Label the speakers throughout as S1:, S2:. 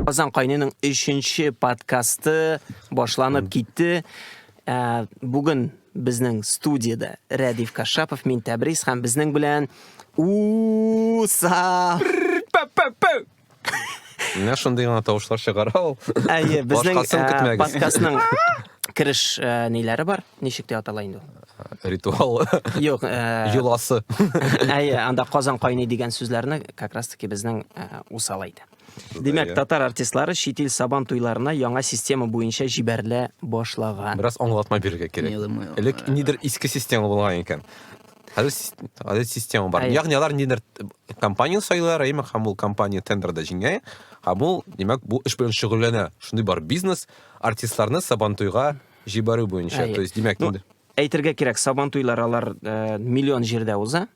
S1: Казан кайныйның өченче подкасты башланып китте. Ә, Бүген безнең студияда Рәдиф Кашапов, мин Тәбрис һәм безнең белән Уса.
S2: Менә шундый гына тавышлар чыгара ул. Әйе, безнең
S1: э, подкастның кереш э, ниләре бар? Ничек дип атала инде ул? ритуалы
S2: юк э,
S1: йоласы
S2: әйе
S1: анда казан кайный дигән сүзләрне как раз таки безнең э, усал әйтә димәк татар артистлары чит ил сабан туйларына яңа система буенча җибәрелә башлаган бераз аңлатма бирергә
S2: кирәк элек нидер иске система булган икән Хәзер сис- хәзер система бар. Әйе. Ягъни алар ниндидер компанияне сайлыйлар, әйеме, һәм ул компания тендерда җиңә, һәм ул, димәк, бу эш белән шөгыльләнә. Шундый бар бизнес артистларны Сабантуйга җибәрү буенча. Әйе. То есть, димәк, Ну, инде әйтергә кирәк, сабан
S1: туйлар алар э, миллион җирдә уза.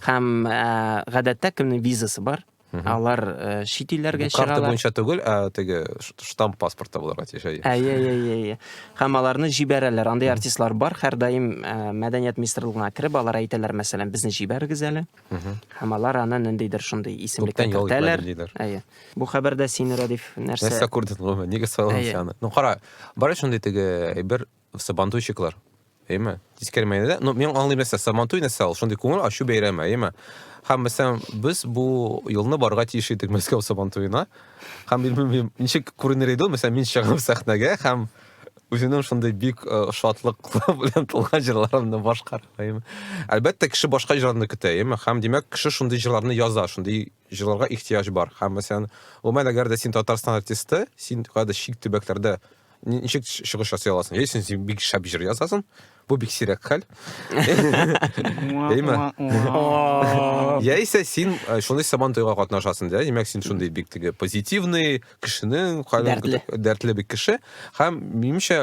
S1: Һәм э, гадәттә кемнең визасы бар, Алар э, чит илләргә чыгалар. Карта буенча түгел, ә
S2: теге штамп паспортта булырга тиеш. Әйе, әйе, әйе, әйе.
S1: Һәм аларны җибәрәләр. Андый артистлар бар, һәрдаим э, мәдәният министрлыгына кереп, алар әйтәләр, мәсәлән, безне җибәрегез әле. Һәм алар аны ниндидер шундый исемлеккә кертәләр. Әйе. Бу хәбәрдә син Рәдиф нәрсә? Нәрсә күрдең гомумән? Нигә
S2: соң аны? Ну кара, бар шундый теге бер Сабантуйчыклар. Әйме? Тискәр мәйнәдә. Ну, мен аңлыйм нәрсә, сабантуй нәрсә ул? Шундый күңел ачу бәйрәме, әйме? Хәм мәсәлән, без бу елны барга тиеш идек Мәскәү сабантуена. Хәм мин белмим, ничек күренер иде ул, мәсәлән, мин чыгам сәхнәгә хәм үзенең шундый бик э, шатлык белән тулган җырларымны башкармыйм. Әлбәттә, кеше башка җырларны көтә, яме. Хәм димәк, кеше шундый җырларны яза, шундый җырларга ихтыяҗ бар. Һәм, мәсәлән, гомумән, әгәр дә син Татарстан артисты, син кайда чит төбәкләрдә ничек чыгыш ясый аласың? Яисә син бик шәп җыр язасың, бу бик сирәк хәл. Әйме? Яисә син э, шундый сабан туйга катнашасың, да? Димәк, син шундый бик теге позитивный кешенең, дәртле. дәртле бик кеше. Һәм минемчә,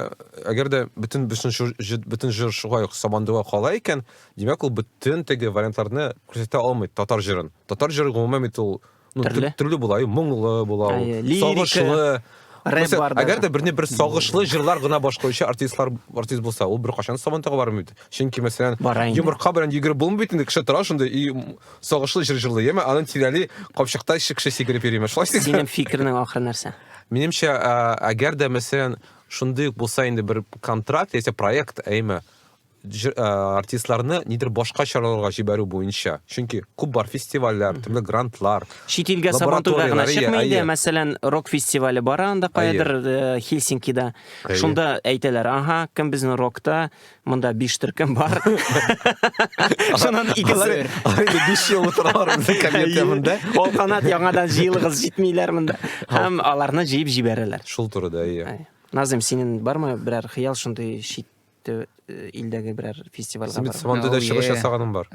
S2: әгәр дә бөтен бөтен җыр шулай ук сабан туйга кала икән, Димәк, ул бөтен теге вариантларны күрсәтә алмый татар җырын. Татар җыры гомумән бит ул ну, төрле. төрле була, моңлы була, сагышлы. Рэп бар да. Әгәр дә берне бер сагышлы җырлар гына башкаручы артистлар артист булса, ул бер кашан сабантага бармый бит. Чөнки мәсәлән, йомырка белән йөгереп булмый бит инде, кеше тора шунда и сагышлы җыр җырлый. Яме аның тирәли капчыкта кеше сикереп йөриме? Шулай син. Синең фикернең
S1: ахыр нәрсә? Минемчә,
S2: әгәр дә мәсәлән, шундый булса инде бер контракт яисә проект, әйме, артистларны нидер башка чараларга җибәрү буенча. Чөнки күп бар фестивальләр, төрле грантлар. Чит илгә сабантуйга
S1: гына чыкмый инде, мәсәлән, рок фестивале бар анда кайдыр э, Хельсинкида. Шунда әйтәләр, ага, кем безнең рокта, монда биш төркем бар. Шуннан икесе. Инде биш ел
S2: утыралар безнең комментия монда. Ул канат яңадан
S1: җыелыгыз җитмиләр монда. Һәм аларны җыеп җибәрәләр. Шул турыда, әйе.
S2: Назым, синең
S1: бармы берәр хыял шундый чит Тө, э, илдәге берәр фестивальгә Син бит барып. Сабантуйда Oh, чыгыш yeah.
S2: ясаганың бар.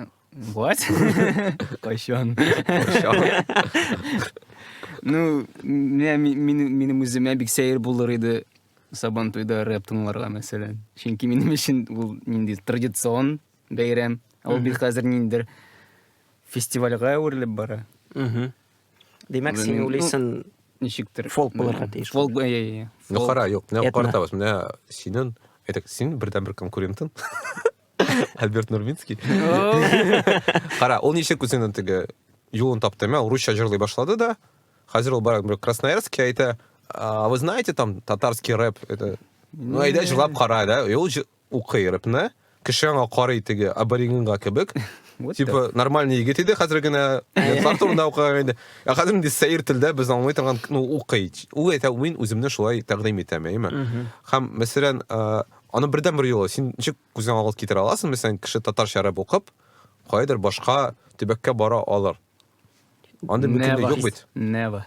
S2: What?
S3: Кайчан? Ну, менә ми- минем минем үземә бик сәер булыр иде Сабантуйда рэп тыңларга, мәсәлән. Чөнки минем өчен ул нинди традицион бәйрәм. Ә Ул бит хәзер ниндидер фестивальгә әверелеп бара. Мгм.
S1: Димәк, син уйлыйсың, ничектер фолк
S3: булырга тиеш.
S1: Фолк, әйе,
S3: Ну, хара,
S2: юк, менә каратабыз, менә синен, әйтәк, син бердән бер конкурентын. Альберт Нурминский. Хара, ул ничек үзенең теге юлын тапты, мәл русча җырлый башлады да. Хәзер ул барак бер Красноярский әйтә, а вы знаете там татарский рэп? Это Ну, әйдә җырлап кара, да? И ул Укый рэпны, кеше аңа карый теге аборигенга кебек. Типа нормальный егет иде, хәзер генә ятлар турында укыган иде. Ә хәзер инде сәер телдә без аңлый торган, ну, укый. Ул әйтә, мин үземне шулай тәкъдим итәм, әйеме? Һәм, мәсәлән, аны бердән бер юлы син ничек күзең алга китерә аласың, мәсәлән, кеше татарча рэп укып, кайдыр башка төбәккә бара алыр. Андый мөмкинлек юк бит. Never.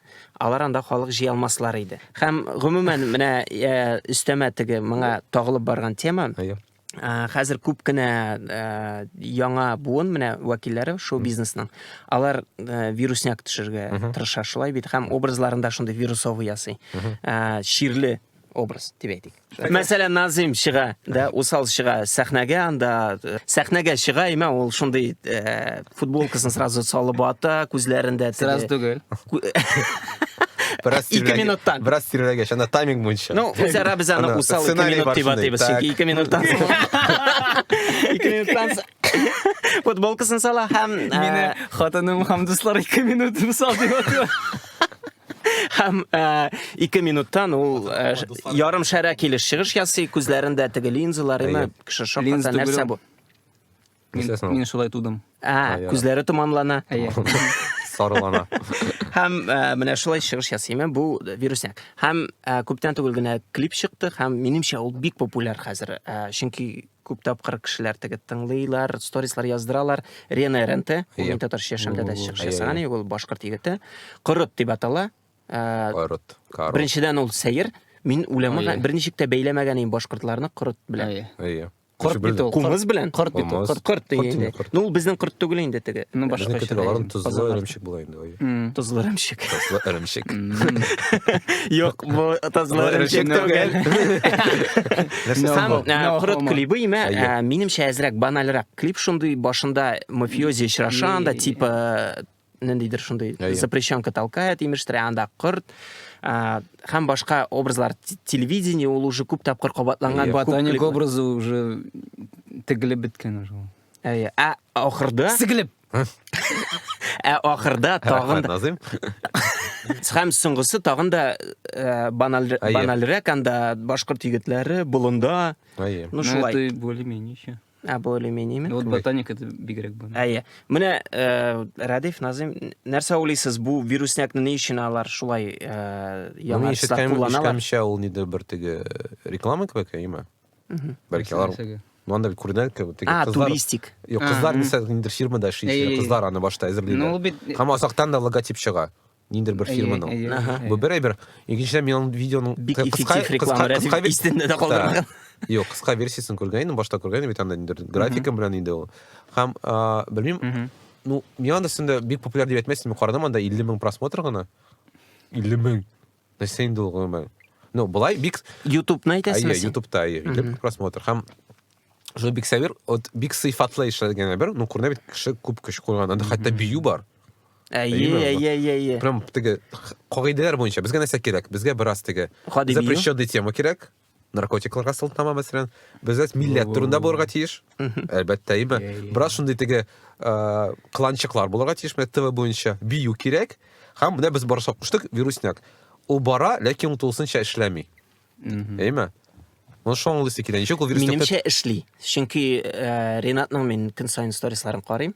S1: алар анда халык җыя алмаслар иде. Һәм гомумән менә э, өстәмә теге моңа тагылып барган тема. Әйе. Ә, Хәзер күп кенә ә, яңа буын менә вәкилләре шоу бизнесның. Алар ә, вирусняк төшергә тырыша шулай бит һәм образларында шундый вирусовый ясый. Ә, Чирле образ дип әйтик. Мәсәлән, Назим чыга, да, усал чыга сәхнәгә, анда э, сәхнәгә чыга, имә ул шундый э, футболкасын сразу салып ата, күзләрендә сразу түгел.
S3: Бераз
S1: ике минуттан. Бераз тирәгәч, анда
S2: тайминг буенча. Ну, үзара без аны
S1: усал ике минут дип атыйбыз, чөнки ике минуттан. Ике минуттан футболкасын сала һәм э, мине хатыным
S3: һәм дуслар ике минут усал дип атыйлар.
S1: Һәм э, ике минуттан ул э, ш- ярым шәрә килеш чыгыш ясый, күзләрендә теге линзалар, имә, Әйе. кеше шакката, Линза түгел нәрсә ул. бу? Мин, Нәрсәсен
S3: ул? мин шулай тудым. А, Әйе. күзләре
S1: томанлана. Әйе.
S2: Сарылана. Һәм
S1: э, менә шулай чыгыш ясый, имә, бу вирусняк. Һәм э, күптән түгел генә клип чыкты, һәм минемчә ул бик популяр хәзер, э, чөнки Күп тапкыр кешеләр теге тыңлыйлар, сторислар яздыралар. Рена Эренте, ул Әйе. мин татарча яшәмдә дә чыгыш Әйе, ясаган, әйе. егет, ул башкорт егете. Корот дип атала. Ә, Корот.
S2: Корот. Беренчедән ул
S1: сәер. Мин үләмә Әйе. берничек тә бәйләмәгән идем башкортларны корот белән. Әйе. Әйе. Корт Үзе бит белдем.
S3: ул. Кумыс белән. Корт бит ул. Кумыс.
S1: Корт. Корт Корт
S3: инде. инде, корт. Ну,
S1: ул безнең корт түгел инде теге. Ну, башка Безнең китек аларым
S3: тозлы Казаннар. эремчек
S2: була инде. Тозлы эремчек.
S1: Тозлы эремчек. Юк, бу тозлы эремчек түгел. Сам курыт клибы имә, минемчә әзрәк банальрак. Клип шундый башында мафиози очраша анда, типа ниндидер шундый запрещенка толкает, имештер, анда курт. Хәм башка образлар телевидение ул уже күп тапкыр кабатланган. Ботаник образы
S3: уже тегелеп беткән уже. Әйе. Ә
S1: ахырда сигелеп
S3: Ә ахырда
S1: тагын Назим. Һәм соңгысы тагын да э, банальрәк анда башкорт егетләре болында. Ну шулай. Это более-менее еще.
S3: А более-менее. Вот
S1: ботаника это
S3: бигрәк бу. Әйе. Менә э,
S1: Радиф Назим, нәрсә уйлыйсыз бу вируснякны ни өчен алар шулай э, яңа штат кулланалар? Ишеткәнчә ул нидер бер
S2: теге реклама кебек, әйеме? бәлки алар мынандай бит күренә теге а туристик юк кызлар
S1: мисал
S2: ниндидер фирмада эшли кызлар аны башта әзерлиләр һәм азактан да логотип чыга ниндидер бер фирманың бу бер әйбер икенчедән мин аның видеоның кыска
S1: истендә дә калдырмаган юк кыска
S2: версиясын күргән идем башта күргән идем бит анда ниндидер графика белән иде ул һәм белмим ну миңа да бик популяр дип әйтмәссең мин карадым анда илле мең просмотр гына илле мең Нәрсә инде ул гомумән? Ну, былай бик... Ютубны әйтәсеңме? Әйе,
S1: Ютубта, әйе, идем,
S2: просмотр. Һәм Жо бик сәвер, от бик сыйфатлы эшләгән бер, ну, күренә бит кеше күп көч куйган, анда хәтта бию бар. Әйе, әйе, әйе, әйе. Прям теге кагыйдәләр буенча безгә нәрсә кирәк? Безгә бераз теге запрещенный тема кирәк. наркотикларга сылтама мәсәлән без әз милләт турында булырга тиеш әлбәттә име бераз шундый теге кланчыклар булырга тиеш менә тв буенча бию кирәк һәм менә без барса куштык вирусняк ул бара ләкин ул тулысынча эшләми әйме Ну, шо аңлыйсы килә. Ничек ул вирус Минемчә эшли.
S1: Чөнки э, Ренатның мин көн сайын сторисларын карыйм.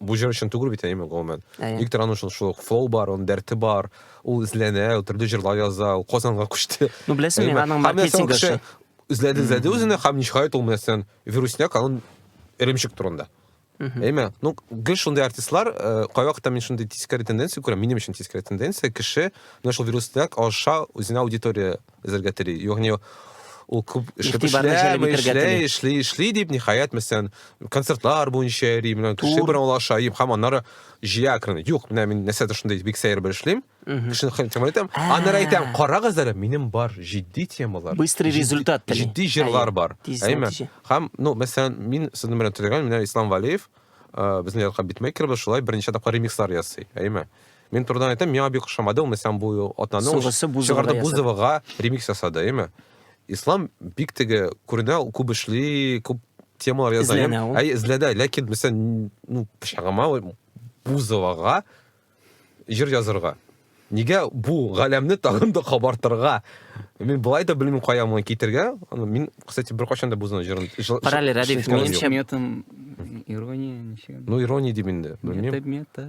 S2: бу җыр өчен түгел бит әйеме гомумән виктор аның шул шул флоу бар оның дәрте бар ул эзләнә ул төрле җырлар яза ул казанга күчте ну беләсең мин аның
S1: маркетинг эше эзләде эзләде
S2: үзенә һәм ниһаять ул нәрсән вирусняк аның эремчек турында Әйме, ну, гел шундай артистлар, э, кайвакытта мин шундый тискәре тенденция күрәм, минем өчен тискәре тенденция, кеше менә шул вирустак аша үзенә аудитория Эзергә тели. Ягъни ул күп эшләп эшли, эшли, эшли дип, ниһаять, мәсәлән, концертлар буенча йөри, менә кеше белән олаша, ем, һәм аннары җыя акрын. Юк, менә мин нәрсә шундый бик сәер бер эшлим. Кешене хәтер итәм. Аннары әйтәм, карагыз әле, минем бар җитди темалар. Быстрый результат.
S1: Җитди җырлар бар.
S2: Әйме? Һәм, ну, мәсәлән, мин сезнең белән төзегән, менә Ислам Валиев, безнең якка битмейкер, шулай берничә тапкыр ремикслар ясый. Әйме? Мин турыдан әйтәм, миңа бик ошамады ул Месян бу атнаны. Сугысы Бузовага Бузовага ремикс ясады, әйме? Ислам бик теге күренә, ул күп эшли, күп темалар яза. Эзләнә ул. Әй, эзләдә, ләкин Месян, ну, пычагыма Бузовага җыр язырга. Нигә бу галәмне тагын да кабартырга? Мин былай да белмим кая моны китергә. Мин, кстати, бер качан да Бузовны җырын... Параллель, Радик,
S1: минемчә... Метом,
S2: ирония,
S3: ничек?
S1: Ну,
S3: ирония
S2: дим инде,
S3: белмим. Мета,
S2: мета.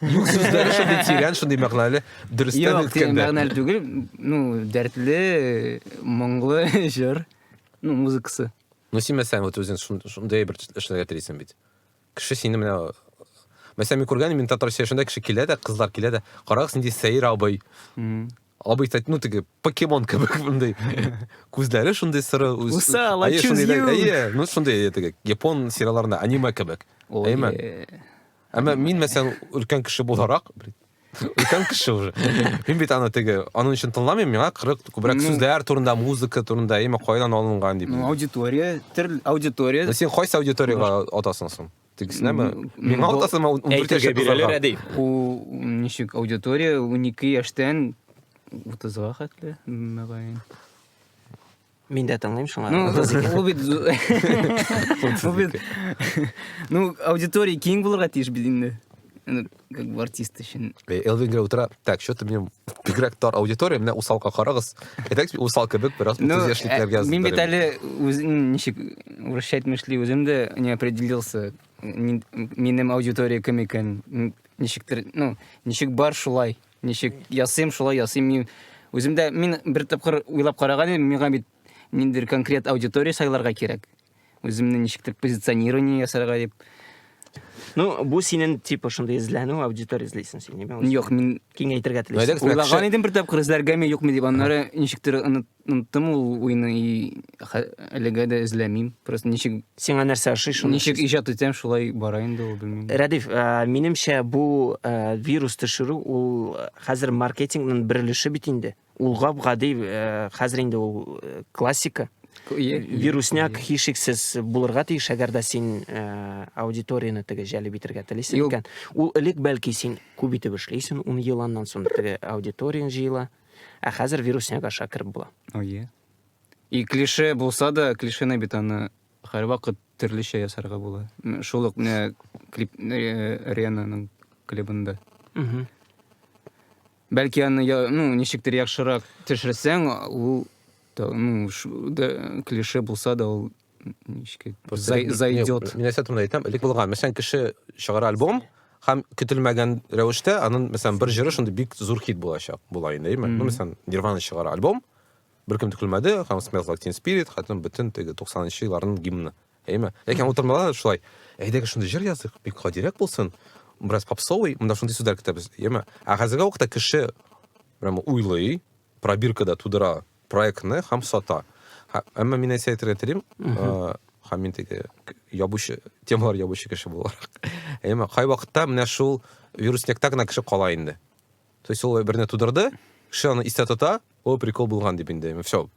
S2: Юк, сүзләре шундый тирән, шундый мәгънәле. Дөрестән Юк, тирән әйткәндә. мәгънәле түгел.
S3: Ну, дәртле, моңлы җыр. Ну, музыкасы. Ну, син мәсәлән, вот
S2: үзең шун- шундый бер эшләргә телисең бит. Кеше сине менә Мәсәлән, мин күргән, мин татар сөйләшендә кеше килә дә, кызлар килә дә, карагыз нинди сәер абый. Мгм. Абый тәт, ну теге покемон кебек мондый. Күзләре шундый сыры. үз- Усал, I Әйе, choose шундый
S3: да- you. Әйе, ну шундый әйе, теге
S2: япон сериалларында аниме кебек. Ой, Әйме? э, Әмма мин мәсәлән өлкән кеше буларак, өлкән кеше уже. Мин бит аны теге, аның өчен тыңламыйм, миңа кырык күбрәк сүзләр турында, музыка турында, яме кайдан алынган дип. Ну, аудитория,
S3: төр аудитория. Ну, син кайсы аудиторияга
S2: атасың соң? Тегесенәме? Миңа атасың, мә 14 яшьлек кызларга. Әйтергә
S1: Бу
S3: ничек аудитория 12 яшьтән 30-га хәтле, мәгаен.
S1: Мин дә тыңлыйм шуңа. Ну, ул бит ул бит
S3: Ну, аудитория киң булырга тиеш бит инде. Ну, как бы артист өчен. Э, Элвин генә утыра.
S2: Так, что ты мне бигрәк тар аудитория, менә усалка карагыз. Әйтәкс, усал кебек бераз ну, энтузиашликләргә язып. Э, мин бит әле
S3: үзен ничек вращать мышли, үзем дә не определился. Минем аудитория кем икән? Ничектер, ну, ничек бар шулай. Ничек ясыйм, шулай ясыйм. Мин үзем дә мин бер тапкыр уйлап караган идем, миңа бит ниндидер конкрет аудитория сайларга кирәк. Үземне ничектер позиционирование ясарга дип. Ну,
S1: бу синен типа шундый эзләнү аудитория эзлисең син, ниме? Юк, мин киңәйтергә
S3: телисең.
S1: Уйлаган идем бер тапкыр
S3: эзләргәме, юкмы дип, аннары ничектер оныт Оныттым ул уйны и әлегә дә эзләмим. Просто ничек Сиңа нәрсә ошый шуны?
S1: Ничек иҗат итәм, шулай
S3: бара инде ул белмим. Рәдиф,
S1: минемчә бу вирус төшерү ул хәзер маркетингның бер өлеше бит инде. Ул гап-гади хәзер инде ул классика. Вирусняк һичшиксез булырга тиеш, әгәр дә син аудиторияне теге җәлеп итәргә телисең икән. Ул элек бәлки син күп итеп эшлисең, ун ел аннан соң теге аудиторияң җыела. Ә хәзер вирусник аша кереп була. Ое.
S3: И клише булса да, клишены бит аны һәрвакыт төрлечә ясарга була. Шул ук менә клип э, Ренаның клибында. Угу. Бәлки аны я, ну, ничектер яхшырак төшерсәң, ул да, ну, ш, да, клише булса да ул ничек зайдет минәсәт турында әйтәм элек булган
S2: мәсәлән кеше чыгара альбом һәм көтелмәгән рәвештә аның мәсәлән бер җыры шундый бик зур хит булачак була инде әйме ну мәсәлән нирвана чыгара альбом беркем тә көлмәде һәм smells like teen spirit хәтем бөтен теге туксанынчы елларның гимны әйме ләкин утырмалар шулай әйдәгез шундый җыр языйк бик гадирәк булсын бераз попсовый монда шундый сүзләр көтәбез әйме ә хәзерге вакытта кеше прямо уйлый Пробирка да тудыра проектны һәм сата. Әмма мин әйтә әйтергә телим, һәм мин теге ябучы, темалар ябучы кеше буларак. Әмма кай вакытта менә шул вирусникта гына кеше кала инде. То есть ул берне тудырды, кеше аны истә тота, о, прикол булган дип инде. Все.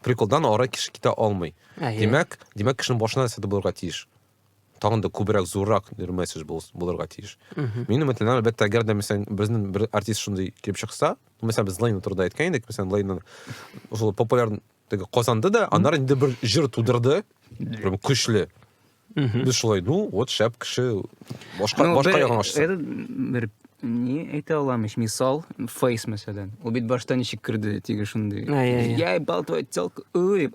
S2: Приколдан ара кеше китә алмый. Димәк, димәк кешенең башына нәрсә булырга тиеш. тагын да күбрәк зуррак месседж булырга тиеш мин өметләнәм әлбәттә әгәр дә мәсәлән безнең бер артист шундый килеп чыкса мәсәлән без лейна турында әйткән идек мәсәлән лейна шул популяр казанды да аннары инде бер җыр тудырды көчле Без шулай, ну, вот шәп кеше, башка, ну, башка ягын ашса. Бер
S3: не әйтә алам ич мисал фейс мәсәлән ул бит башта ничек керде теге шундый я ебал твою телку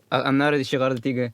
S3: аннары чыгарды теге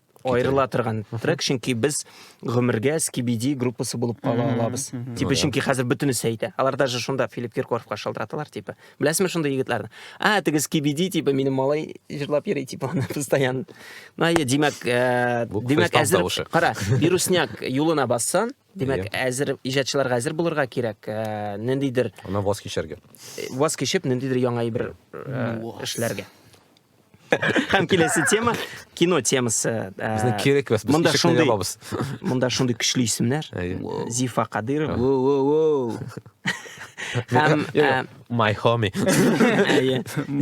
S1: аерыла торган трек, чөнки без гомергә Скибиди группасы булып кала алабыз. Типа чөнки хәзер бөтенесе әйтә. Алар даже шунда Филипп Киркоровка шалтыраталар, типа. Беләсезме шундый егетләрне? А, теге Скибиди, типа, минем малай җырлап йөри, типа, аны постоянно. Ну, әйе, димәк, э, димәк әзер, кара, вирусняк юлына бассан, Димәк, әзер иҗатчыларга әзер булырга кирәк. Э, ниндидер Ана ваз
S2: кичәргә.
S1: Э, ваз кичеп, ниндидер яңа
S2: әйбер
S1: эшләргә. һәм киләсе тема кино темасы безне кирәк без
S2: монда шундый
S1: монда
S2: шундый көчле
S1: исемнәр зифа
S2: кадыров
S1: һәм my
S2: homie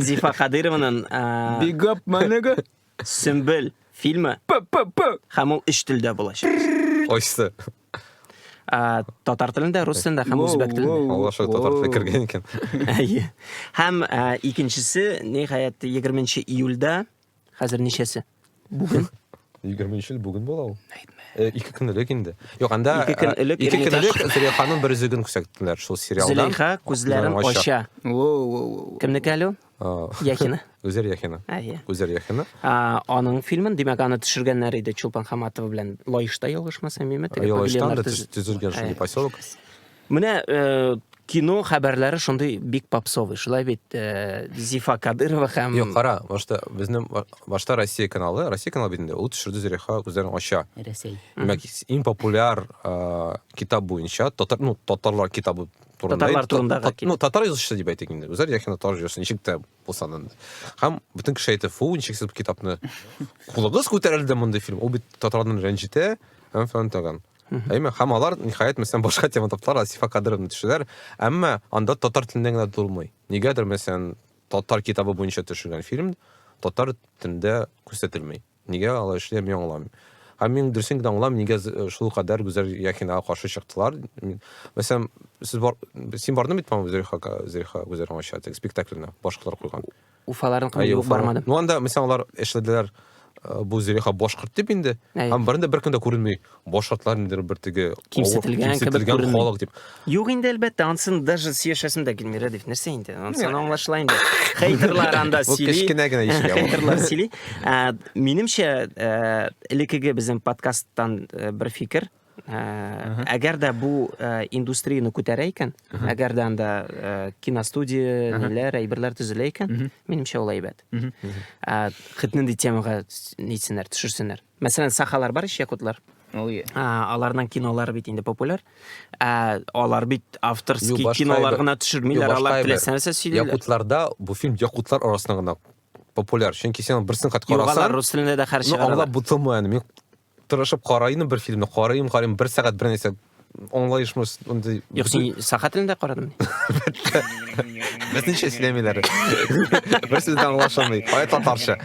S1: зифа кадырованың big up
S3: my nigga сөмбел
S1: фильмы һәм ул өч телдә булачак очты
S2: Ә,
S1: татар телендә, рус телендә һәм үзбәк телендә. Аллаша татар теле кергән
S2: икән. Әйе.
S1: Һәм ә, икенчесе, ниһаять, 20 июльдә, хәзер ничәсе? Бүген. 20 ел
S2: бүген була ул. Э, ике көн элек инде. Юк, анда ике көн э, элек ике көн
S1: элек Зөләйханың
S2: бер үзеген күрсәттеләр шул сериалда. Зөләйха күзләрен
S1: ача.
S3: Кемнеке әле?
S1: Яхина. Үзәр Яхина.
S2: Әйе. Үзәр Яхина. Аның фильмын,
S1: димәк, аны төшергәннәр иде Чулпан Хаматова белән Лаешта ялгышмасам, миме? Лаешта да
S2: төзелгән шундый поселок. Менә э,
S1: кино хәбәрләре шундый бик попсовый. Шулай бит э, Зифа Кадырова һәм Юк, кара, башта
S2: безнең башта Россия каналы, Россия каналы бит инде. Ул төшерде Зөрәха үзләрен ача. Россия. Димәк,
S3: иң
S2: популяр э, китап буенча татар, ну, татарлар китабы татарлар турында ну
S1: татар язучысы деп әйтик инде
S2: үзләре яки татар язучысы ничек тә булса да һәм бөтен кеше әйтә фу ничексез китапны кулыгыз күтәрелде мондый фильм ул бит татарларны рәнҗетә һәм фән тагын әйме һәм алар ниһаять мәсәлән башка тема таптылар асифа кадыровны төшерәләр әмма анда татар теленнән генә тулмый нигәдер мәсәлән татар китабы буенча төшергән фильм татар телендә күрсәтелми Нигә алай эшли, мин аңламыйм. Һәм мин дөресен генә аңламыйм, нигә шулкадәр Гүзәл Яхинага каршы чыктылар. Мәсәлән, сез бар, син бардың бит, по-моему, Зөлиха, Зөлиха Гүзәл аңача теге спектакльне башкалар куйган. Уфаларын кылып юк
S1: бармадым. Ну анда, мәсәлән, алар
S2: эшләделәр, бу Зөлиха башкорт дип инде, һәм берендә беркем дә күренми. башкортлар ниндидер бер теге кимсетелгән, кимсетелгән
S1: халык дип.
S2: Юк инде әлбәттә,
S1: ансын даже сөйләшәсем дә килми, Рәдиф, нәрсә инде? Ансын аңлашыла инде. Хейтерлар анда сөйли. Кечкенә генә ишек. Хейтерлар
S2: сөйли.
S1: Ә, минемчә, ә, элекеге безнең подкасттан ә, бер фикер, Ә, әгәр дә бу ә, индустрияны күтәрә икән, әгәр дә анда ә, киностудия, ниләр, әйберләр төзелә икән, минемчә ул әйбәт. Ә, хит нинди темага нитсеннәр, төшерсеннәр. Мәсәлән, сахалар бар ич якутлар. Ой. А, аларның кинолары бит инде популяр. А, алар бит авторский Ю, башка кинолар әйбер. гына төшермиләр, Ю, башка алар әйбер. теләсә нәрсә сөйлиләр. Якутларда бу фильм
S2: якутлар арасында гына популяр. Чөнки син берсен кат Юк, алар карасаң, рус телендә дә
S1: хәр ну чыгаралар. аңлап бутылмый аны.
S2: Мин тырышып карайны бер фильмны, карыйм, карыйм, бер сәгать бер нәрсә аңлаеш мондый юк син саха
S1: телендә карадым
S2: безнеңчә сөйләмиләр бер сүз дә аңлашылмый кая татарча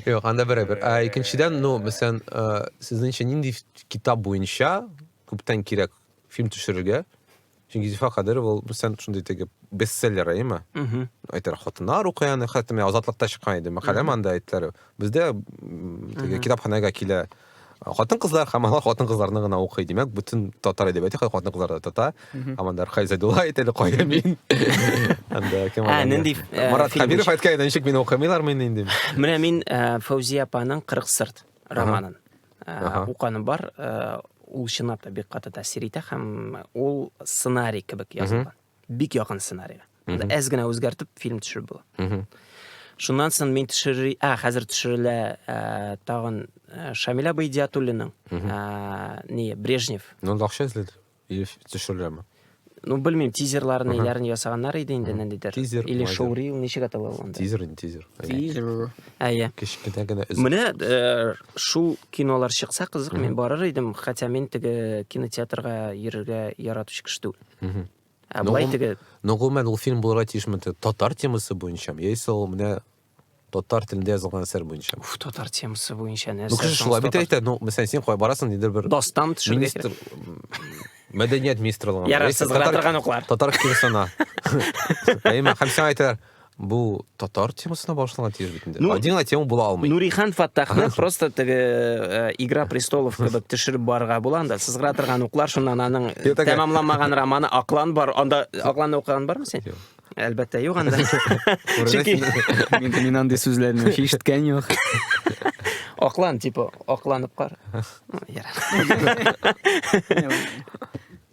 S2: юк анда берәбер икенчедән ну мәсәлән сезнеңчә нинди китап буенча күптән кирәк фильм төшерергә чөнки зифа кадыров ул мәсәлән шундый теге бестселлер әйеме әйтер хатыннар укый аны хәтта мен азатлыкта чыккан иде мәкаләм анда әйттеләр бездә теге китапханәгә килә хатын-кызлар һәм алар хатын-кызларны гына укый. Димәк, бүтән татар әдәбияты хәй хатын-кызлар да тата. Аманда Рхай Зәдулла әйтә әле кая мин. Анда кем ала? Нинди э, Марат Хабиров
S1: әйткән
S2: иде, ничек мине укымыйлар мин инде. Менә мин э,
S1: Фәүзия апаның 40 сырт романын э, уканым бар. Ул чынлап та бик каты тәэсир итә һәм ул сценарий кебек язылган. бик якын сценарийга әз генә үзгәртеп фильм төшереп була шуннан соң мин төшери а хәзер төшерелә ә, тагын ә, шамиля байдиатуллиның ә, не брежнев ну акча
S2: эзләде или төшереләме ну белмим
S1: тизерларны ярын ясаганнар иде инде ниндидер тизер или шоурил
S2: ничек атала
S1: ул тизер тизер
S2: тизер
S1: әйе кечкенә генә
S2: менә э,
S1: шул кинолар чыкса кызык мин барыр идем хотя мин теге кинотеатрга йөрергә яратучы кеше түгел Ә былай теге Ну, гомумән, ул фильм
S2: булырга тиешме? Татар темасы буенча, яисә ул менә татар телендә язылган әсәр буенча. Уф, татар темасы
S1: буенча нәрсә? Ну, кеше шулай бит әйтә, ну,
S2: мәсәлән, син кая барасың, нидер бер... Достан төшергә министр... Мәдәният министрлыгы. Ярар, сез татар...
S1: Татар киносына.
S2: Әйме, һәм сиңа әйтәләр, Бу татар темасына башланган тиеш бит инде. Ну, Один гына тема була алмый. Нурихан Фаттахны
S1: просто теге э, Игра престолов кебек төшереп барырга була анда. Сызгыра торган уклар шуннан аның Юк, тәгә. тәмамламаган романы Аклан бар. Анда Акланны укыган бармы син? Юк. Әлбәттә, юк анда. Чөнки Мин, мин
S3: андый сүзләрне вообще ишеткән юк.
S1: Аклан типа акланып кар. Ну, ярар.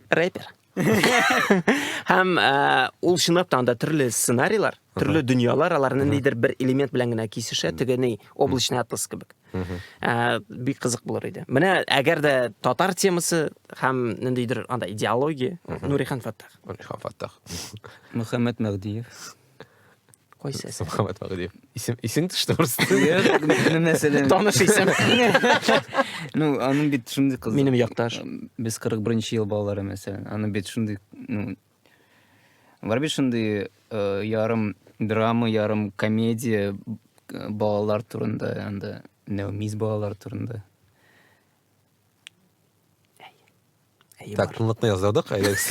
S1: Рэпер. Һәм э, ул чынлап та анда төрле сценарийлар, төрле дөньялар аларны нидер бер элемент белән генә кисешә, теге ни, облачный атлас кебек. Э, бик кызык булыр иде. Менә әгәр дә татар темасы һәм ниндидер анда идеология, Нурихан Фаттах.
S2: Нурихан
S3: Фаттах.
S1: Мөхәммәд
S2: Мәгдиев.
S1: Кайсы әсәр? Мөхәммәт Вәгыйдиев.
S2: Исем исең төште просто. Мәсәлән.
S3: Таныш исем. Ну, аның бит шундый кызы. Минем якташ.
S1: Без 41-нче
S3: ел балалары мәсәлән. Аның бит шундый, ну, бар бит шундый э, ярым драма, ярым комедия э, балалар турында, анда Нәүмиз балалар турында.
S2: Так, тынлыкны яздырдык, әйдәгез.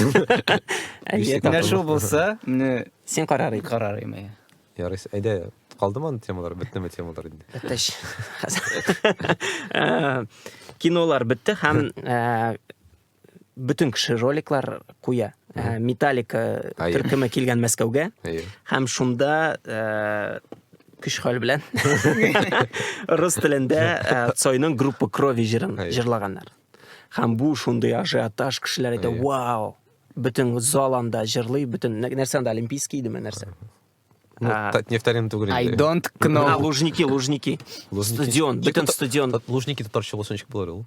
S3: Менә шул булса, менә син карар ит. Карар
S1: име.
S3: Ярый, әйдә,
S2: калдымы аны темалар, беттеме темалар инде? Беттеш. Э,
S1: кинолар бетте һәм э, бөтен кеше роликлар куя. Э, Металлика төркеме килгән Мәскәүгә һәм шунда күш хәл белән рус телендә Цойның группа крови җырын җырлаганнар. Һәм бу шундый ажиотаж, кешеләр әйтә, вау, бөтен зал анда җырлый, бөтен нәрсә анда олимпийский идеме нәрсә? Ну, а,
S2: нефтарин түгел. I don't know. А,
S3: лужники, лужники.
S1: лужники. Стадион, бөтен стадион. Лужники татарча булса
S2: ничек булыр ул?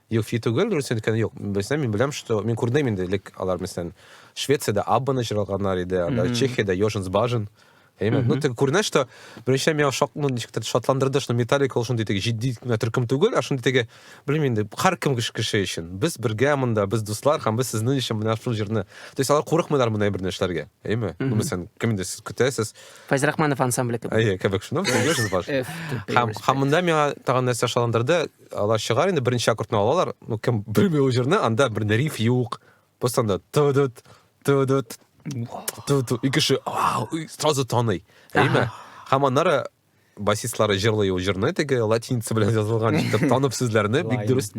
S1: Юк, фи түгел, дөрес
S2: әйткән юк. Бездә мин беләм, что мин күрдем инде элек алар мәсәлән Швециядә Аббаны җырлаганнар иде, анда Чехиядә Йоженс Бажен. Әйме, ну тик күренә, что беренче меня шок, ну ничектер шатландырды, что Металлика ул шундый теге җитди генә төркем түгел, а шундый теге, белмим инде, һәркем кеше өчен. Без бергә монда, без дуслар һәм без сезнең өчен менә шул җырны. То есть алар курыкмыйлар мондый бер нәрсәләргә. Әйме, ну мәсәлән, кем инде сез көтәсез? Файз Рахманов
S1: ансамбле кебек. Әйе, кебек шуны, Йоженс
S2: Бажен. Һәм һәм монда меня тагын нәрсә шатландырды, Алар чыгар инде беренче аккордны алалар, ну кем белми ул җырны, анда бер риф юк. Просто анда тудут, тудут, тудут. И кеше сразу таный. Әйме? Һәм аннары басистлары җырлый ул җырны теге латиница белән язылган итеп танып сүзләрне бик дөрес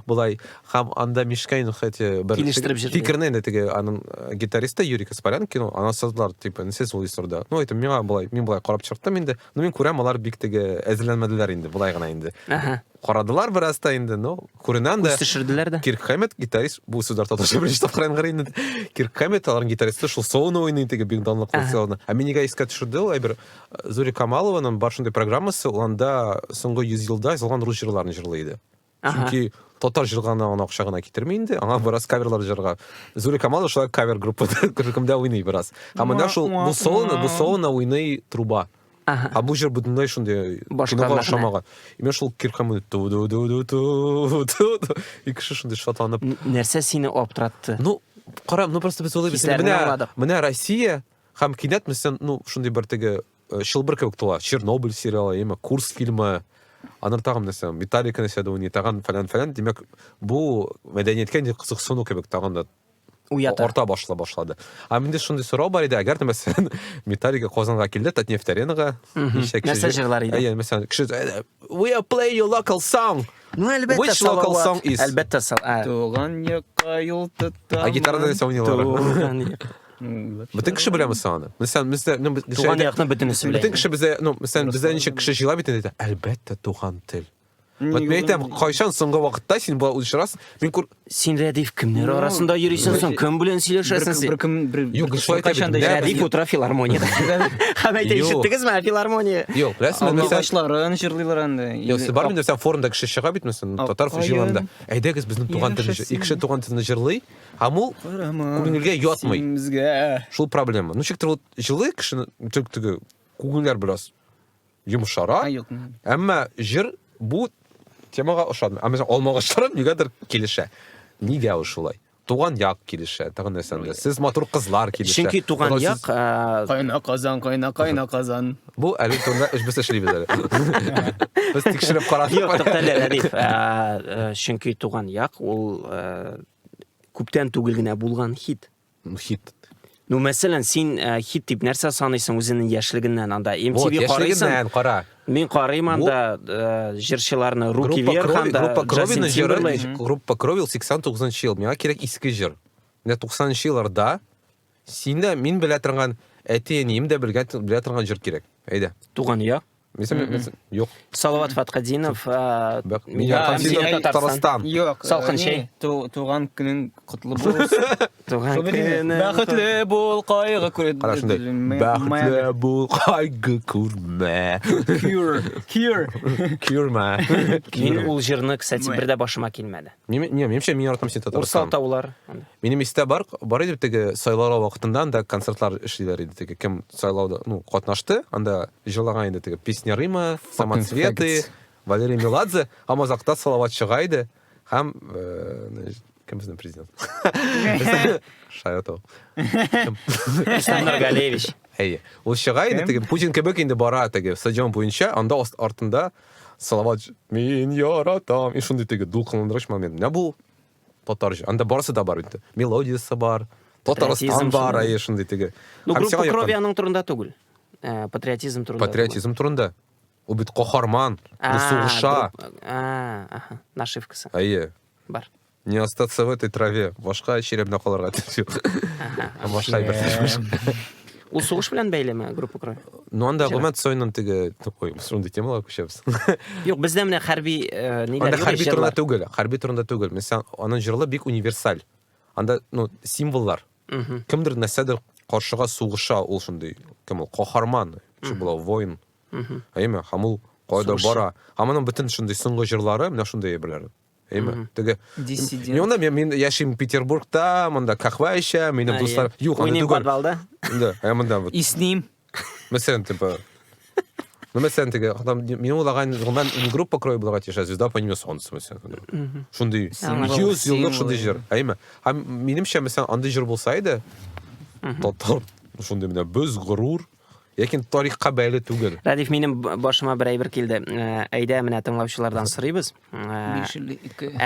S2: болай һәм анда мишкаин хәтта бер килештереп җырлый фикерне инде теге аның э, гитаристы юрий каспарян кино ана сазлар типа сез ул исорда ну это миңа болай мин болай карап чыктым инде Ну, мин күрәм, алар бик теге әзерләнмәделәр инде, болай гына инде. Ага. Карадылар бераз та инде, ну, күренән дә. Үз төшерделәр дә. Кирк Хэммет,
S1: гитарист,
S2: бу сүзләр татарча беренче тапкыр янгырый инде. Кирк Хэммет, аларның гитаристы, шул солоны уйный теге бик данлыклы ага. солоны. Ә мин нигә искә төшерде ул әйбер? Зури Камалованың бар шундый программасы, ул анда соңгы 100 елда язылган рус җырларын җырлый иде. Чөнки татар җырганы аны акча гына китерми инде. Аңа бераз каверлар җырга. Зури Камал шулай кавер группа төркемдә уйный бераз. Һәм менә шул бу солоны, бу солоны уйный труба. А бу җыр бөтенләй шундый кинога ошамаган. Именно шул киркамы ту ду ду ду ту ту. И кеше шундый шатланып. Нәрсә сине
S1: аптыратты? Ну, кара,
S2: ну просто без уйлыйбыз. Менә Россия һәм кинәт мисен, ну, шундый бер теге Э, чылбыр кебек тула чернобыль сериалы яме курс фильмы анар тагын нәрсә металлика нәрсә дә уйный тагын фәлән фәлән димәк бу мәдәнияткә инде кызыксыну кебек тагын да уята арта башла башлады ә менде шундый сорау бар иде әгәр дә мәсәлән металлика казанга килде татнефть аренага нәрсә
S1: җырлар иде әйе мәсәлән кеше э,
S2: we are play your local song ну әлбәттә which
S1: local song is
S2: әлбәттә
S1: туган
S3: якка юл тоттым а гитарада нәрсә уйныйлар
S2: туган Бөтен кеше беләме соң аны? Мәсәлән, бездә, ну, без Туган әйтә- якның бөтенесе
S1: белән. Бөтен кеше бездә, ну, мәсәлән,
S2: бездә ничек кеше җыела бит инде. Әлбәттә, туган тел. Вот мин әйтәм, кайчан соңгы вакытта син болай очрас? Мин күр... Син Рәдиф кемнәр
S1: арасында йөрисең соң? Кем белән сөйләшәсең син? Беркем бер Юк, шулай да бит.
S2: Рәдиф утыра филармониядә.
S1: Һәм әйтә, Юк. ишеттегезме, ә филармония? Юк, рәсмән, мәсәлән,
S2: Алгачларын җырлыйлар
S3: инде. Юк, сез бар инде, сән форумда
S2: кеше чыга бит, мәсәлән, татар Апкаен. җыелында. Әйдәгез, безнең туган телне җыр- Яшәсен. Икеше туган телне җырлый, Һәм ул күңелгә ятмый. Шул
S3: проблема. Ну,
S2: чектер, вот җылы кешене, тек теге, күңелләр бераз йомшара. Әмма җыр бу темага ошамый. Ә мәсәлән, алмагачларым нигәдер килешә. Нигә ул шулай? туган як килешә тагын нәрсәндә сез матур кызлар килешә чөнки туган як
S1: кайна
S3: казан кайна кайна казан бу әле
S2: турында без эшлибез әле без тикшереп карадык юк туктале рәдиф
S1: чөнки туган як ул Күптән түгел генә булган хит. Ну, хит.
S2: Ну, мәсәлән,
S1: син э, хит дип нәрсә саныйсың үзеңнең яшьлегеннән анда? MTV вот, яшьлегеннән, кара. Мин
S2: карыйм анда
S1: э, җырчыларны Руки вверх анда. Группа Кровина җыры,
S2: группа Кровил 89 ел. Миңа кирәк иске җыр. Менә 90 елларда Син дә, мин белә торган, әти-әнием дә белгән, белә торган җыр кирәк. Әйдә. Туган я.
S1: Мисәм, Мгм. мисәм,
S2: юк. Салават Фаткадинов.
S1: а, Бәк- Мин Мин Ярхан
S2: Ярхан Синов, Синов, Татарстан.
S1: Татарстан.
S2: Юк. Салкын э,
S3: чәй. не, ту-
S1: Туган көнең
S3: котлы булсын. Туган Шо белмим.
S1: көнең Бәхетле бул,
S3: кайгы күр. Кара шундай. М- Бәхетле
S2: Майами. бул, кайгы күрмә. Cure. Cure. Күрмә. Мин ул җырны,
S1: кстати, Мэ. бер дә башыма килмәде. Мин, не, менимчә, мин яратам
S2: син Татарстан. Урсал таулар. Минем
S1: истә бар,
S2: бар иде теге сайлау вакытында анда концертлар эшлиләр иде теге. Кем сайлауда, ну, катнашты, анда җылаган иде теге Песня Рима, Самоцветы, Валерий Меладзе, һәм азакта салават чыга иде. Һәм э, кем безнең президент? Шаятов. Александр
S1: Галевич. Әйе. Ул
S2: чыга иде теге Путин кебек инде бара теге стадион буенча, анда артында Салават, мин яратам. И шундый теге дулкынландыргыч момент. Менә бу татарча. Анда барысы да бар бит. Мелодиясе бар. Татарстан бар, ай шундый теге. Ну, группа крови
S1: аның турында түгел. Э, патриотизм турында. Патриотизм турында.
S2: Ул бит каһарман, ул сугыша.
S1: Нашивкасы. Әйе.
S2: Бар. Не
S1: остаться в
S2: этой траве. Башка черемдә калырга тиеш юк. Башка бер тиеш. Ул сугыш
S1: белән бәйлеме группа крови? Ну анда гомумән
S2: Цойның теге такой шундый темалар күчәбез. Юк, бездә менә
S1: хәрби э, ниләр. Анда хәрби
S2: турында түгел, хәрби турында түгел. Мисал, аның җырлы бик универсаль. Анда ну символлар. Кемдер нәрсәдер каршыга сугыша ул шундый. Кем ул? Каһарман. Шу була воин. Әйме, һәм ул кайда бара. Һәм аның бөтен шундый соңгы җырлары менә шундый әйберләр. Әйме? Мгм. Теге Диссидент. Мин монда мин, мин яшим Петербургта, монда кахва эчәм, минем дуслар. Юк, аны Уйныйм түгел.
S1: подвалда. Да, ә монда
S2: вот. Исним.
S3: Мәсәлән, типа.
S2: Ну, мәсәлән, теге, там, минем улаган, гомумән, не группа крой буларга тиеш, а звезда по имени Солнце, мәсәлән. Шундый, Символ. 100 Символ. еллык шундый җыр. Әйме? Һәм минемчә, мәсәлән, андый җыр булса иде, татар, шундый менә без горур, Ләкин тарихка бәйле түгел. Радиф, минем башыма
S1: бер әйбер килде. Э, әйдә, менә тыңлаучылардан сорыйбыз. Э,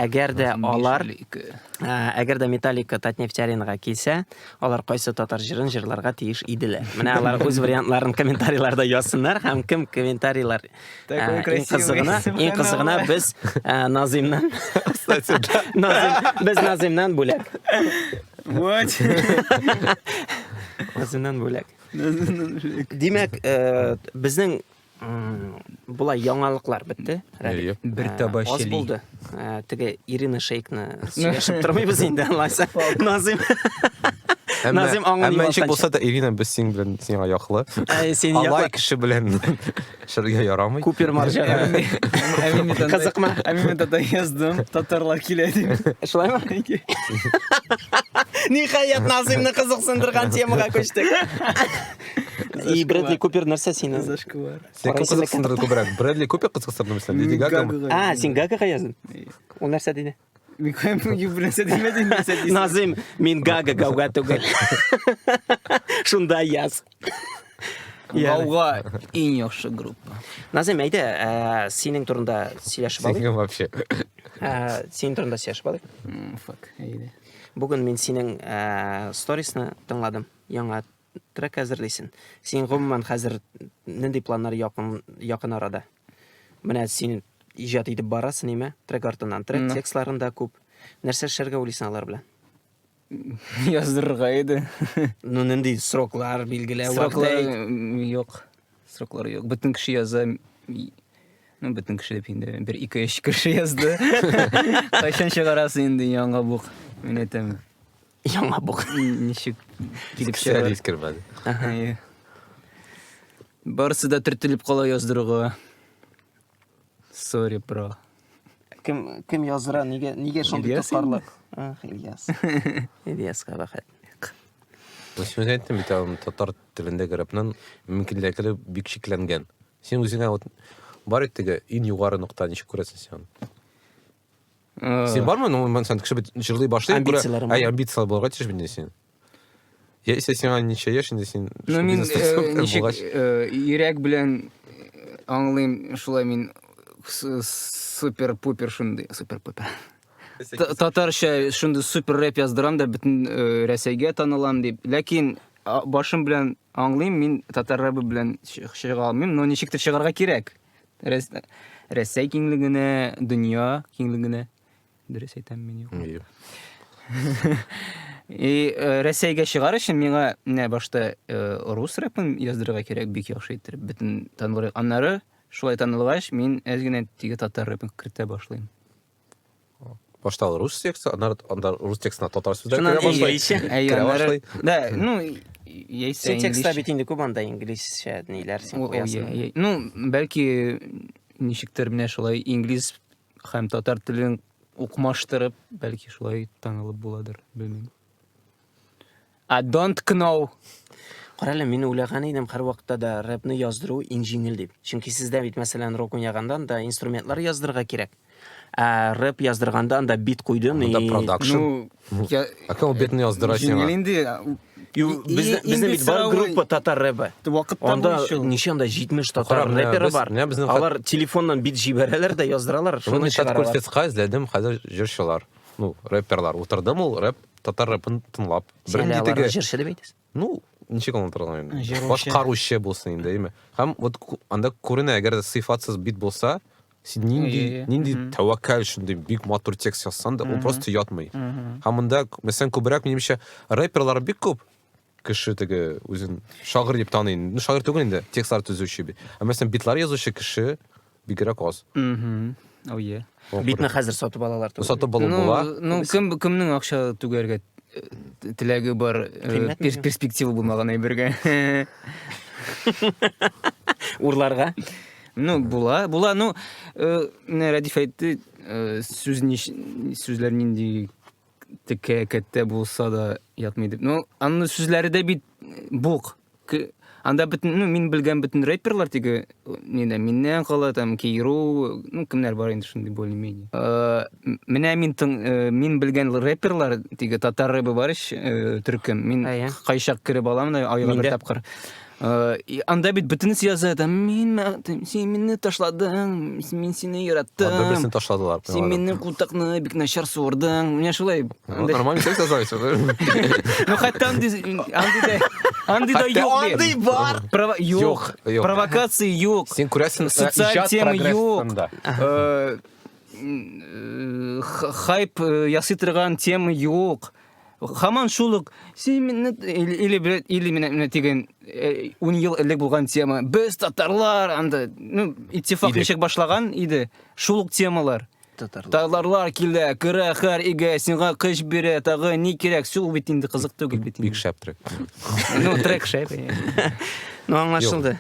S1: әгәр дә алар, э, әгәр дә Металлика Татнефть аренага килсә, алар кайсы татар җырын җырларга тиеш иделәр. Менә алар үз вариантларын комментарийларда язсыннар һәм кем комментарийлар иң кызыгына, иң кызыгына без Назимнан без Назимнан бүләк. Вот. Назимнан бүләк. Димәк, э, безнең былай яңалыклар бетте. Радик. Бер э, таба
S3: Аз булды.
S1: Э, теге Ирина Шейкны сөйләшеп тормыйбыз инде, алайса. Назим. Назим аңын Әмма ничек булса
S2: да Ирина без синең белән сиңа яклы. Алай кеше белән. Эшләргә ярамый. Күпер марҗага.
S1: Кызыкма. Ә мин монда
S3: яздым, татарлар килә дип. Шулаймы?
S1: Ниһаять, Назимны кызыксындырган темага күчтек. И Брэдли Купер нәрсә сине? Зашквар. Син кем
S3: кызыксындырды
S2: күбрәк? Брэдли Купер кызыксындырдымы син? Леди Гагамы? А, син Гагага
S1: яздың? Ул нәрсә диде? Микоем
S3: юбилесе демедин дисәдис. Назым, мин гага
S1: гауга түгел. Шунда яз.
S3: Гауга иң яхшы группа. Назым, әйдә,
S1: ә, синең турында сөйләшеп алыйк. Синең вообще.
S2: Ә,
S1: синең турында сөйләшеп алыйк. Фак, әйдә.
S3: Бүген мин
S1: синең ә, сторисны тыңладым. Яңа Трек әзерлисен. Син гомумән хәзер нинди планнар якын якын арада? Менә син иҗат итеп барасың, ниме? Трек артыннан трек, ну. текстларын да күп. Нәрсә эшләргә уйлыйсың алар белән?
S3: Яздырырга иде. ну, нинди
S1: сроклар билгеләү? Сроклар
S3: юк. Сроклары юк. Бөтен кеше яза. Ну, бөтен кеше дип инде бер ике өч кеше язды. Кайчан чыгарасы инде яңа бук? Мин әйтәм. Яңа бук.
S1: Ничек
S3: килеп чыгар? Кисәр кермәде. Барысы да төртелеп кала яздыруга. Sorry, bro. Кем
S1: кем яздыра? Нигә нигә шундый Ильяс тоткарлык? Ах, Ильяс. Ильяска бәхет.
S2: Үсмер әйттем бит аны татар телендә грәпнен мөмкинлекле бик шикләнгән. Син үзеңә вот бар иттеге ин югары нокта ничек күрәсең син? Э. Син бармы? Ну, мен сән кеше бит җырлый башлый. Амбицияләре бар. Әй, амбицияләр булырга тиеш бит син. Я исә сиңа ничә яшь инде син? Ну, мин э,
S3: ничек э, йөрәк белән аңлыйм, шулай мин супер-пупер шундый, супер-пупер. Татарча шундый супер рэп яздырам да бөтен Рәсәйгә танылам дип. Ләкин башым белән аңлыйм, мин татар рэбы белән чыга алмыйм, но ничектер чыгарга кирәк. Рәсәй киңлегенә, дөнья киңлегенә. Дөрес әйтәм мин юк. И э, Рәсәйгә чыгар өчен миңа менә башта э, рус рэпын яздырырга кирәк, бик яхшы иттереп, бөтен танылыр. Аннары шулай танылгач, мин әз генә теге татар рэпын кертә башлыйм.
S2: башта алар рус тексты аннары анда рус текстына татар сүзләр Шуннан керә башлый инглизче. Әй, керә аннары-
S1: башлый Да,
S2: ну,
S3: и- яисә Син текстта инглизчә. бит инде
S1: күп анда инглизчә ниләр син О, о, куясың. я, я. Ну, бәлки
S3: ничектер менә шулай инглиз һәм татар телен укмаштырып, бәлки шулай танылып буладыр, белмим. I don't know. Карале,
S1: мин уйлаган идем һәрвакытта да рэпны яздыру иң җиңел дип. Чөнки сездә бит, мәсәлән, рок уйнаганда да инструментлар яздырырга кирәк. Ә рэп яздырганда анда бит куйдым и... Да продакшн. Ну,
S2: я... А кем битны яздыра сиңа? Җиңел инде.
S3: Безнең
S1: бит бар группа татар рэпы. Анда
S3: ничем да
S1: 70 татар рэперы бар. Алар телефоннан бит җибәрәләр дә яздыралар. Шуны чат күрсәткән
S2: эзләдем, хәзер җырчылар. Ну, рэперлар. Утырдым ул рэп Татар рэпын тыңлап. Син әле аларны җырчы
S1: дип әйтәсең? Ну, ничек
S2: аңлатырга инде? Башкаручы булсын инде, әйме. Һәм вот анда күренә, әгәр сыйфатсыз бит булса, син нинди нинди тәвәккәл шундый бик матур текст язсаң да ул просто ятмый һәм монда мәсәлән күбрәк минемчә рэперлар бик күп кеше теге үзен шагыйрь дип таный ну шагыйрь түгел инде текстлар төзүче бит ә мәсәлән битлар язучы кеше бигрәк аз ое
S3: битны хәзер сатып
S1: алалар түгел сатып алып ну, була
S2: ну кем кемнең
S3: акча түгәргә э, теләге бар э, перспектива булмаган әйбергә
S1: урларга ну
S3: була була ну э, рәдиф әйтте сүз сүзләр нинди Текә кәттә булса да ятмый дип. Ну, анны сүзләре дә бит бук. Анда бөтен, ну, мин белгән бөтен рэперлар теге нидә миннән кала там Кейру, ну, кемнәр бар инде шундый более-менее. Э, менә мин тың, э, мин белгән рэперлар теге татар рэбы бар ич, э, төркем. Мин кайчак кереп алам да айга бер тапкыр. Э, анда бит бөтенесе яза да мин син мине ташладың мин сине яраттым анда берсен ташладылар
S2: син минем култыкны
S3: бик начар суырдың менә шулай нормально текст яза
S2: ну
S3: хәтта андый андыйда андыйда юк андый бар
S1: юк
S3: провокация юк син күрәсең социаль
S2: тема
S3: юк хайп ясый торган тема юк Хаман шул ук син мине или бер или менә менә дигән 10 ел элек булган тема. Без татарлар анда ну иттифак ничек башлаган иде. Шул ук темалар. Татарлар. Татарлар килә, керә хәр игә, сиңа кыш бирә, тагы ни кирәк? Су бит инде кызык түгел бит. Бик шәп трек.
S2: Ну трек
S3: шәп. Ну
S1: аңлашылды.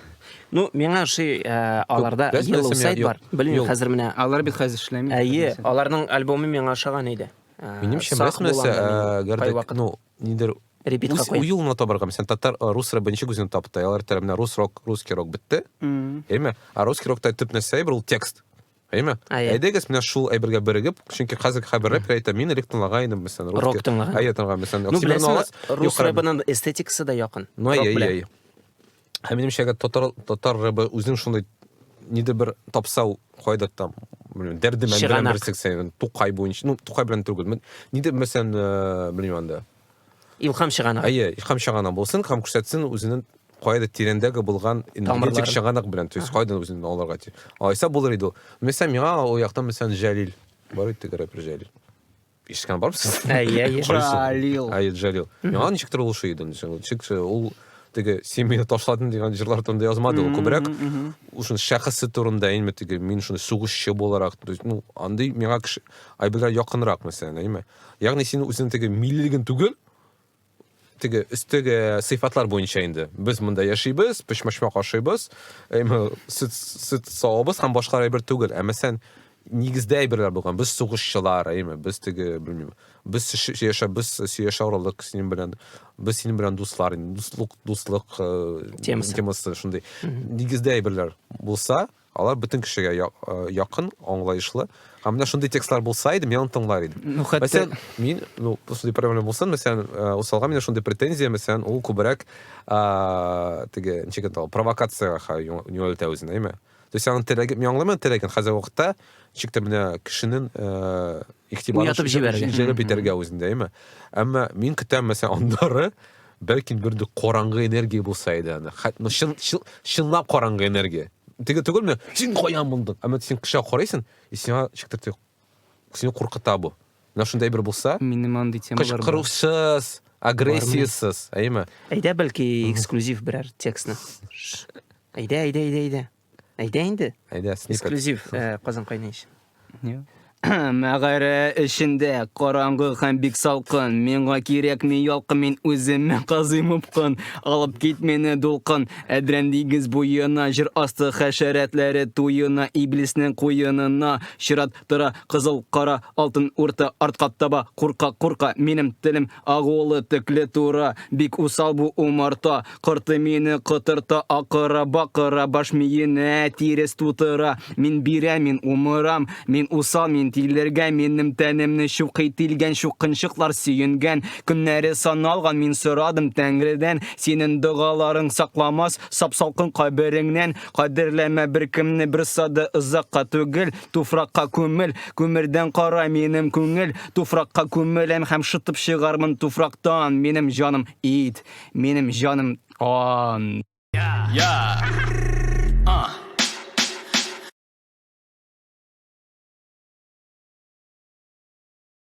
S1: Ну, миңа ошый э, аларда Yellow Side бар. Белмим, хәзер менә. Алар бит хәзер эшләми.
S3: Әйе, аларның
S1: альбомы миңа ошаган иде. Минемчә, сак мәсьәләсе, булам
S2: да мин э, гәрдәк, кайвакыт ну, нидер репитка үз куям.
S1: уюлына табарга. Мәсәлән, татар
S2: э, рус рэп беренче күзен тапты. Алар тәрәп менә рус рок, русский рок бетте. М. Әйме? А русский рокта төп нәрсә әйбер ул текст. Әйме? А, иә. Әйдәгез менә шул әйбергә бирегеп, чөнки хәзерге хәбәр рэп әйтә, мин элек тыңлаган идем, мәсәлән, русский. Рок тыңлаган. Әйе, тыңлаган,
S1: мәсәлән, Ну, Оксимирон
S2: беләсеңме, Алас, рус
S1: Юхара- рэбының эстетикасы да якын. Ну, Рок әйе, белән. әйе.
S2: Һәм минемчә, әгәр татар татар рыбы үзен шундый нидер бер тапса ул кайдыр там белмим дәрде мән белән бер сексен тукай буенча ну тукай белән түгел нидер мәсәлән э, белмим анда илхам
S1: чыганак әйе илхам чыганак
S2: булсын һәм күрсәтсен үзенең кайда тирәндәге булган энергетик чыганак белән то есть кайдан үзен алырга тиеш алайса булыр иде ул мәсәлән миңа ул яктан мәсәлән җәлил бар иде тегерәк бер җәлил Ишеткән бармысыз? Әйе, әйе. Җалил.
S1: Әйе,
S3: Җалил.
S2: Яңа ничек тә булышы иде. Ничек ул теге син мине ташладың дигән җырлар турында язмады ул күбрәк шуны шәхесе турында әйме теге мин шуны сугышчы буларак ну андый миңа кеше айбергә якынрак мәсәлән әйме ягъни син үзең теге миллилеген түгел теге өстәге сыйфатлар буенча инде без монда яшибез пешмәшмәк ашыйбыз эме сөт сөт савабыз һәм башка әйбер түгел ә мәсәлән нигездә әйберләр булган без сугышчылар әйме без теге белмим без яшәп без сөяшә орылдык синең белән без синең белән дуслар дуслык дуслык э, темасы темасы шундый нигездә әйберләр булса Алар бөтен кешегә якын, аңлаешлы. Һәм менә шундый текстлар булса иде, мин аны тыңлар идем. Ну, хәтта... Мәсәлән, мин,
S3: ну,
S2: шундый проблема булсын, мәсәлән, э, усалга менә шундый претензия, мәсәлән, ул күбрәк, а, теге, ничек инде ул, провокациягә юнәлтә үзен, әйме? То есть аның теләге, мин аңламыйм теләген, хәзер вакытта, ничек тә менә кешенең, э, игътибарын җәлеп итәргә үзендә, әйме? Әмма мин көтәм, мәсәлән, аннары, Бәлки бер дә караңгы энергия булса иде аны. Хәт ну чын чын чынлап караңгы энергия. Теге түгелме? Син каян булдың? Әмма син кешегә карыйсың, и сиңа чиктертә. Сине куркыта бу. Менә шундай бер булса, Минем андый темалар бар.
S3: кычкырусыз,
S2: агрессиясез, әйеме? Әйдә, бәлки
S1: эксклюзив берәр текстны. Ш. Әйдә, әйдә, әйдә, әйдә. Әйдә инде. Әйдә, сникет. Эксклюзив
S2: э, Казан
S1: кайнайш. Мәгарә
S3: эчендә караңгы һәм бик салкын. Миңа кирәкми ялкын, мин үземә казыйм упкын. Алып кит мине дулкын, әдрән диңгез буена, җыр асты хәшәрәтләре туена, иблиснең куенына. Чират тора кызыл кара, алтын урта, артка таба курка-курка. Минем телем агулы, текле тура, бик усал бу умарта. Корты мине котырта акыра бакыра Баш миенә тирес тутыра Мин бирә мин умырам Мин усал мин тилергә Минем тәнемне чукый тилгән Чукынчыклар сөенгән Көннәре саналган Мин сорадым Тәңредән Синен догаларың сакламас Сап салкын кабереңнән Кадерләмә беркемне берсады Озакка түгел туфракка күмел Күмердән кара минем күңел Туфракка күмеләм һәм шытып чыгармын туфрактан Минем җаным ит Минем җаным ан. Я. А.